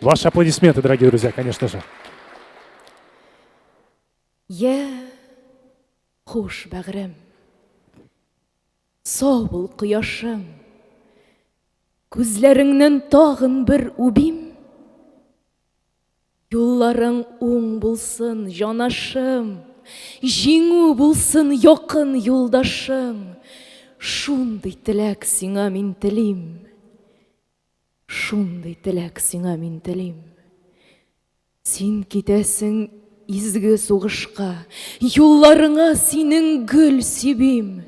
Ваши аплодисменты, дорогие друзья, конечно же. Я хуш, бәгърем. Сау бул, кояшым. Күзләреңнән тагын бер убим. Юлларың уң булсын, җанашым, Җиңү булсын, якын юлдашым, Шундый теләк сиңа мин телим, Шундый теләк сиңа мин телим. Син китәсең Изге сугышка юлларыңа синең гөл сибим.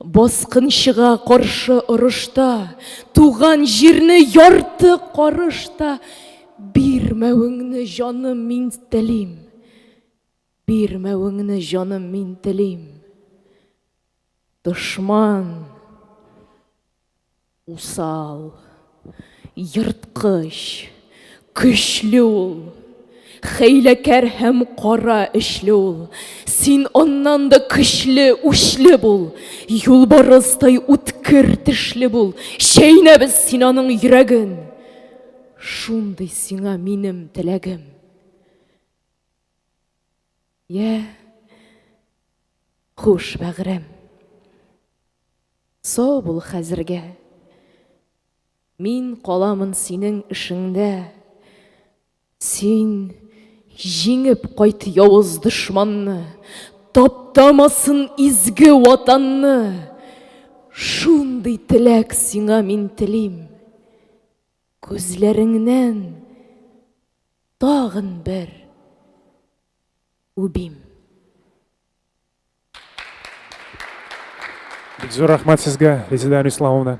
Баскынчыга каршы орышта туган җирне ярты карыш та бирмәвеңне җаным мин телим. Бирмәвеңне җаным мин телим. Дошман! Усал. Ерткыч. Көчле ул. Хәйләкәр һәм кара эчле ул. Син аннан да көчле, үчле бул. Юлбарыстай үткер тешле бул. Чәйнәбез син аның йөрәген. Шундый сиңа минем теләгем. Йә, хуш, бәгърем. Сау бул хәзергә. Мин каламын синең эшеңдә. Син җиңеп кайт явыз дошманны, таптамасын изге ватанны. Шундый теләк сиңа мин телим. Күзләреңнән Тагын бер үбим. Бик зур рәхмәт сезгә, Резеда Иславовна.